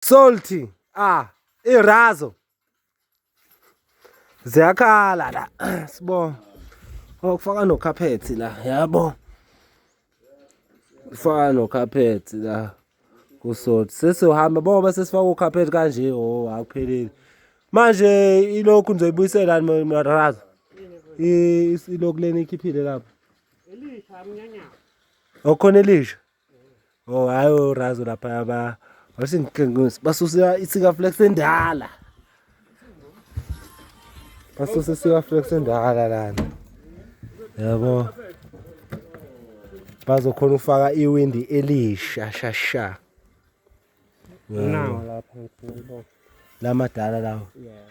Salty. Ah, irazo. Ziyakhala la. Sibonga. Okufaka no carpet la, yabo. Ufaka no carpet la. Kusalt. Sesizohamba boba sesifaka u carpet kanje, oh akupheleli. Manje ilokhu nizoyibuyisela marazo. Ilokhu leni ikhiphile lapha. Elisha mnyanya. Okhona elisha. Oh hayi urazo lapha ba wasingiqinqisa basusa isika flex endala. Basusa isika flex endala lana. Yabo. Bazokhona ufaka iwindi elisha shasha. Nawo lapha ngibona. Lamadala lawo. Yeah.